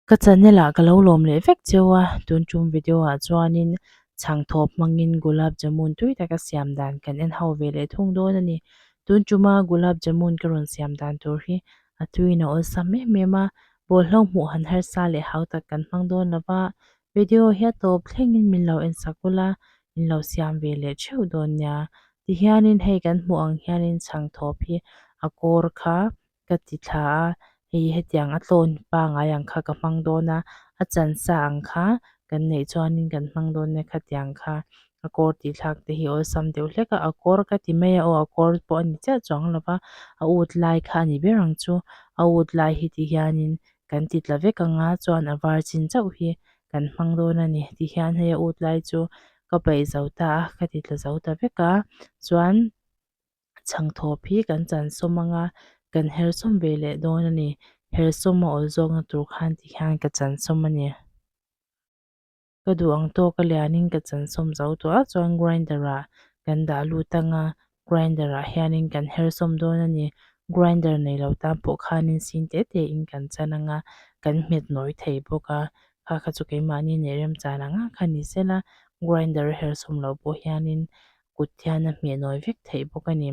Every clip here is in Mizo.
Ka channel ah ka lo lawm leh vek cheu a, tun tum video ah chuanin chhang thawp hmangin gulab jamun tui taka siam dan kan en ho ve leh thung dawn a ni. Tun tuma gulab jamun ka rawn siam dan tur hi a tuiin a awlsam em em a, bawlhhlawk hmuh han harsa leh hau tak kan hmang dawn lova, Video hi tawp thlengin min lo en sak ula, min lo siam ve leh theuh dawn nia. Tihianin hei kan hmuh ang hianin chhang thawp hi a kawr kha ka ti thla a, hei hetiang a tlawn pangai ang kha ka hmang dawn a, a chansa ang kha kan neih chuanin kan hmang dawn nia khatiang kha a kawr tih thlak te hi awlsam deuh hlek a, a kawr ka ti mai a aw a kawr pawh a ni chiah chuang lo va, a ut lai kha a ni ber ang chu, a ut lai hi tihianin kan ti tla vek ang a, chuan a var chin chauh hi kan hmang dawn a ni ti hian hei a ût lai chu ka paih zo ta a, ka ti tla zo ta vek a, chuan chhang thâwp hi kan chansawm ang a, kan hersawm ve leh dawn a ni, hersawm a awlzâwkna tur khan ti hian ka chansawm a ni. ka duh ang tawh ka lianin ka chansawm zo tawh a chuan grinder ah kan dah lut ang a grinder ah hianin kan her sawm dawn a ni grinder nei lo tan pawh khanin sin teh teh in kan chan ang a kan hmet nawi thei bawk a kha kha chu keimahni a nih remchan ang a kha ni sel a grinder a her sawm loh pawh hianin kut hian a hmeh nawi vek theih bawk a ni.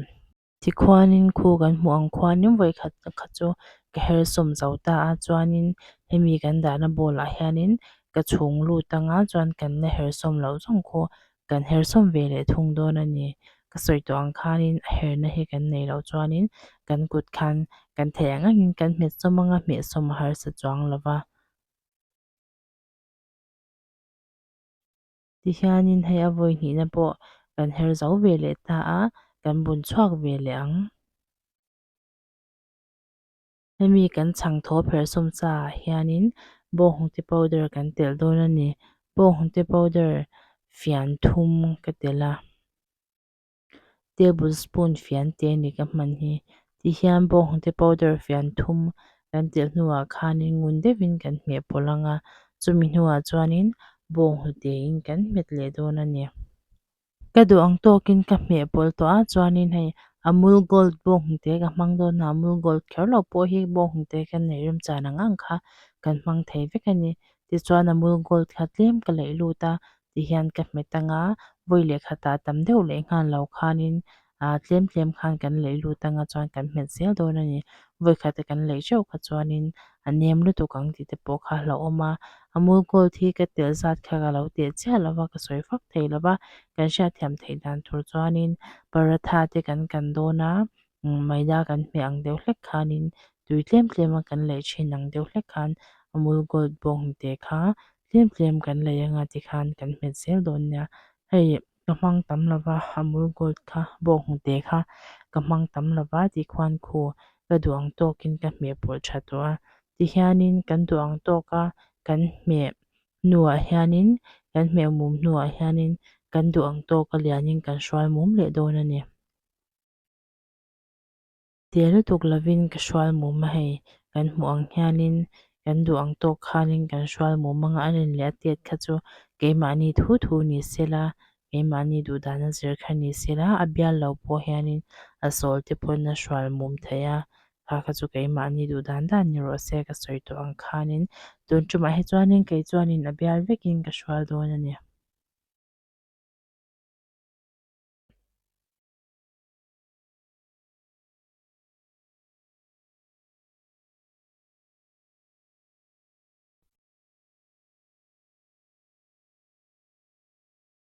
Tikhuanin khu kan hmuh ang khua nim vawi khat khat chu ka her sawm zo ta a chuanin hemi kan dahna bawlah hianin ka chhung lut ang a chuan kan la her sawm loh zawng khaw kan her sawm ve leh thung dawn a ni ka sawi tawh ang khanin a her na hi kan nei loh chuanin kan kut khan kan theih ang angin kan hmet sawm ang a hmeh sawm a harsa chuang lova. tihianin hei a vawi hnihna pawh kan her zo ve leh ta a, kan bun chhuak ve leh ang. Hemi kan chhang thaw pherh sawm chaah hianin bawnghnute powder kan telh dawn a ni. Bawnghnute powder fian thum ka telh a. table spoon fian te a ni ka hman hi ti hian bawng te powder fian thum kan telh hnuah khan in ngun deuhin kan hmehpawlh ang a chumi hnuah chuan in bawng hnute in kan hmet leh dawn a ni ka duh ang tawk in ka hmehpawlh tawh ah chuan in hei amul gold bawng hnute ka hmang dawn hna amul gold kher lo pawh hi bawng hnute kan neih rem chan ang ang kha kan hmang thei vek a ni tichuan amul gold kha tlem ka laih lut a. tih hian ka hmet ang a, vawi lehkha tah tam deuh leh nghal lo khanin aa tlem tlem khan kan laih lut ang a chuan kan hmet zel dawn a ni. Vawi khat a kan laih teuh kha chuanin a nem lutuk ang tih te pawh kha a hla awm a. Amul Gold hi ka telh zat kha ka lo teh chiah lo va, ka sawi fak thei lo va, kan hriatthiam theih dan tur chuanin paratha te kan kan dawn a, maida kan hmeh ang deuh hlek khanin tui tlem tlema kan lei thin ang deuh hlek khan amul gold bawng te kha tlem tlem kan lei anga ti khan kan hmet zel dawn nia hei ka hmang tam lo va amul gold kha bawng te kha ka hmang tam lo va tih khuan khu ka duh ang tawkin ka hmeh pawlh tha tawh a tihianin kan duh ang tawk a kan hmeh hnuah hianin kan hmeh mum hnuah hianin kan duh ang tawk a lianin kan hruai mum leh dawn a ni. Tia lutuk lovin ka hrual mum a hei, kan hmuh ang hianin kan duh ang tawk khanin kan hrual mum a ngah len leh a tiat kha chu keimahni thu thu ni sela, keimahni duhdana zir kha ni sela a bial lo pawh hianin a sawl te pawn a hrual mum theih a, kha kha chu keimahni duhdan dan ni rawh se ka sawi tawh ang khanin tun tumah hi chuanin kei chuanin a bial vekin ka hrual dawn a ni.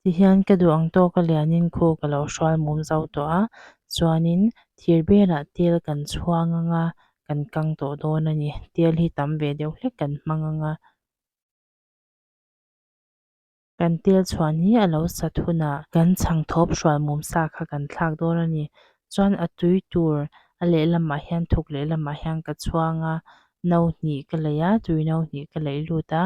Ti hian ka duh ang tawk a lianin khu ka lo hrual mum zo tawh a, chuanin thir belah tel kan chhuang ang a, kan kang tawh dawn a ni. Tel hi tam ve deuh hlek kan hmang ang a. Kan tel chhuan hi a lo sat hunah kan chhang thawp hrual mum sa kha kan thlak dawn a ni. Chuan a tui tur a lehlamah hian thuk lehlamah hian ka chhuang a, no hnih ka lei a, tui no hnih ka lei lut a,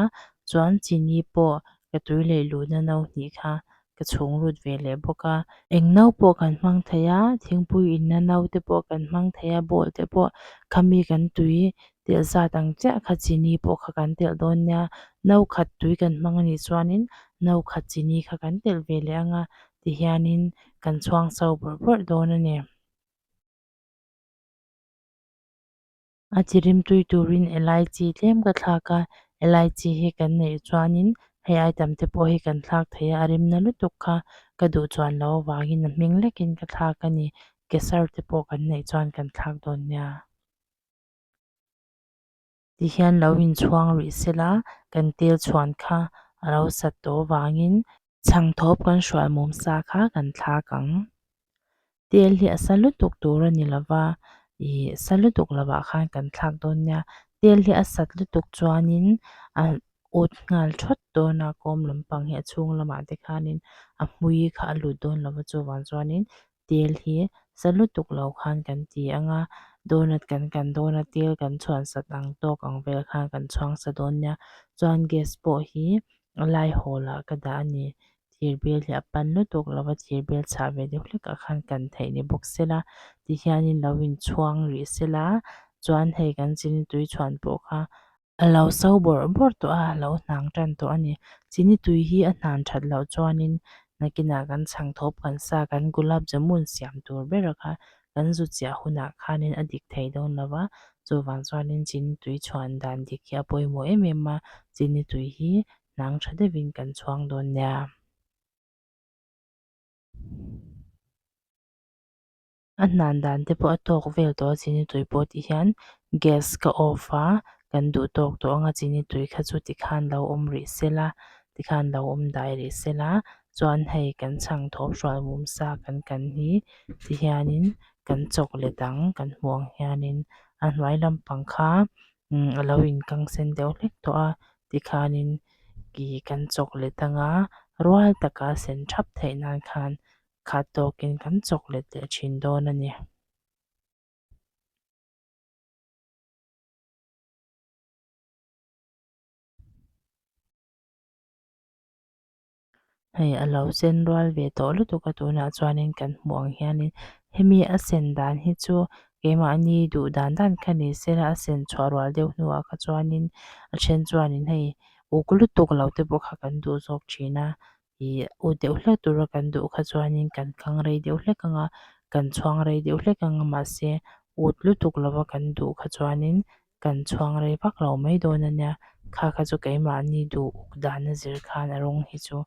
chuan chini pawh ka tui lei luhna no hnih kha ka chhung lut ve leh bawk a. Eng no pawh kan hmang thei a, thingpui inna no te pawh kan hmang thei a, ball te pawh khami kan tui telh zat ang chiah kha chini pawh kha kan telh dawn nia no khat tui kan hmang anih chuanin no khat chini kha kan telh ve leh anga tihianin kan chhuang chho burh burh dawn a ni a chi rimtui turin elai chi tlem ka thlak a elai chi hi kan neih chuanin hei item te pawh hi kan thlak thei a a rim na lutuk kha ka duh chuan lo avangin a hming lekin ka thlak a ni keser te pawh kan neih chuan kan thlak dawn nia. ti hian lo inchhuang rih se la, kan tel chhuan kha a lo sat tawh vangin, chhang thawp kan hruai mum sa kha kan thlak ang. Tel hi a sa lutuk tur a ni lova, ih sa lutuk lovah khan kan thlak dawn nia, tel hi a sat lutuk chuanin a ut nghal thawt dawn a, kawm lampang hi a chhung lamah te khanin a hmui kha a lut dawn lova chuvang chuanin tel hi sa lutuk lo khan kan ti ang a, donut kan kan dawn a, tel kan chhuansat ang tawk ang vel khan kan chhuangsa dawn nia, chuan gas pawh hi a lai hawl ah ka dah a ni, thir bel hi a pan lutuk lo va, thir bel chhah ve deuh hlek ah khan kan theih ni bawk se la, tihian in lo in chhuang rih se la, chuan hei kan zing tui chhuan pawh kha A lo sau bawrh bawrh tawh a, a lo hnang tan tawh a ni. Chini tui hi a hnan that loh chuanin nakinah kan chhang thawp kan sa kan gulab jamun siam tur bera kha kan zu chiah hunah khanin a dik thei dawn lo va, chuvang chuanin chini tui chhuan dan dik hi a pawimawh em em a, chini tui hi hnang tha deuhin kan chhuang dawn nia. a hnan dan te pawh a tawk vel tawh a chini tui pawh tih hian gas ka off a kan duh tawk tawh ang a chini tui kha chu ti khan lo awm rih se la ti khan lo awm dai rih se la chuan hei kan chhang thawh hruai mum sa kan kan hi ti hianin kan chawk let ang kan hmuh ang hianin a hnuai lampang kha umm a lo in kang sen deuh hlek tawh a ti khanin ihh kan chawk let ang a rual taka sen thap theih nan khan-- khat tawkin kan chawk let leh thin dawn a ni. Hei a lo sen rual ve tawh lutuk a tunah chuanin kan hmuh ang hianin hemi a sen dan hi chu keimahni duh dan dan kha ni se a a sen chhuah rual deuh hnuah kha chuanin a then chuanin hei uk lutuk lo te pawh kha kan duh zawk thin a. ih ut deuh hlek tura kan duh kha chuanin kan kang rei deuh hlek ang a, kan chhuang rei deuh hlek ang a mahse ut lutuk lova kan duh kha chuanin kan chhuang rei vak lo mai dawn a nia. Kha kha chu keimahni duh uk dana zir khan a rawng hi chu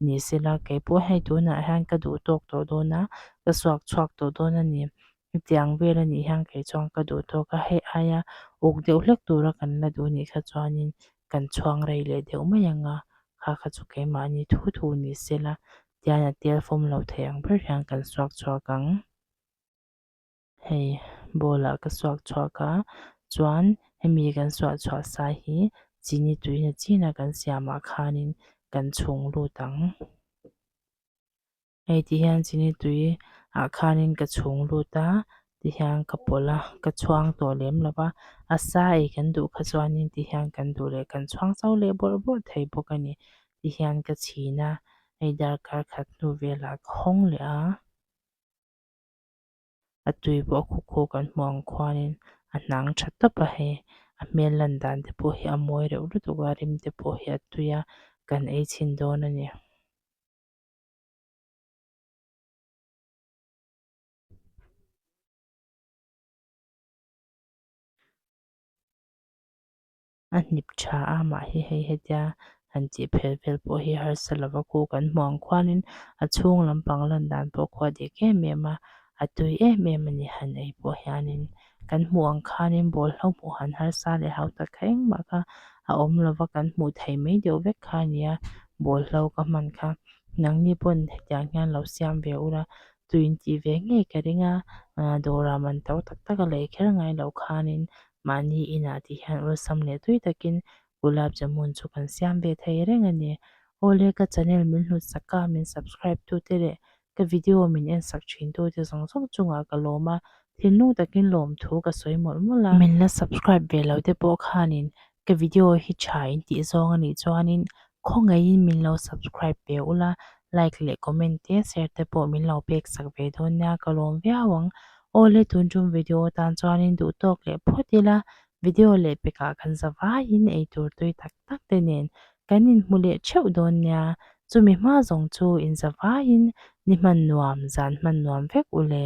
ni sela, keipawh hei tunah hian ka duh tawk tawh dawn a, ka suak chhuak tawh dawn a ni. Hetiang vel a nih hian kei chuan ka duh tawk a, hei aia uk deuh hlek tura kan la duh nih kha chuanin kan chhuang rei leh deuh mai ang a, kha kha chu keimahni thu thu ni se la tian a tel fawm lo thei ang ber hian kan suak chhuak ang. Hei ball-ah ka suak chhuak a, chuan hemi kan suah chhuah sa hi chini tuihna china kan siamah khanin kan chhung lut ang. hei ti hian chi ni tui ah khan in ka chhung lut a ti hian ka pawlh a ka chhuang tawh lem lo va a sa ei kan duh kha chuan in ti hian kan duh leh kan chhuang chau leh bawrh bawrh thei bawk a ni ti hian ka chhin a hei darkar khat hnu vel ah ka hawng leh a a tui pawh a khaw khaw kan hmuh ang khuan in a hnang tha tawp a hei a hmel lan dan te pawh hi a mawi reuh lutuk a rim te pawh hi a tui a kan ei chhin dawn a ni. A hnip tha a mah hi hei hetia han tih phelh vel pawh hi harsa lova ku kan hmu ang khuanin a chhung lampang landan pawh khua dek em em a a tui em em a ni han ei pawh hianin. kan hmuh ang khanin bawlhhlawh hmuh han harsa leh hau tak kha engmah kha a awm lova kan hmuh theih mai deuh vek kha a nia bawlhhlawh ka hman kha nangni pawn hetiang hian lo siam ve ula tui in tih ve ngei ka ring a ahh dawrah man to tak tak a lei kher ngai loh khanin mahni inah tih hian awlsam leh tui takin gulab jamun chu kan siam ve thei reng a ni awle ka channel min hlut sak a min subscribe tute leh ka video min en sak thin tu te zawng zawng chungah ka lawm a, thinlung takin lawm thu ka sawi mawlh mawlh a. Min la subscribe ve lo te pawh khanin ka video hi tha in tih zawng a nih chuanin khawngaihin min lo subscribe ve ula, like leh comment te share te pawh min lo pek sak ve dawn nia ka lawm viau ang. Aw le tun tum video atan chuanin duhtawk leh phawt ila video leh pekah kan zavaiin eitur tui tak tak te nen kan inhmu leh theuh dawn nia, chumi hma zawng chu inzavaiin ni hman nuam zan hman nuam vek u le.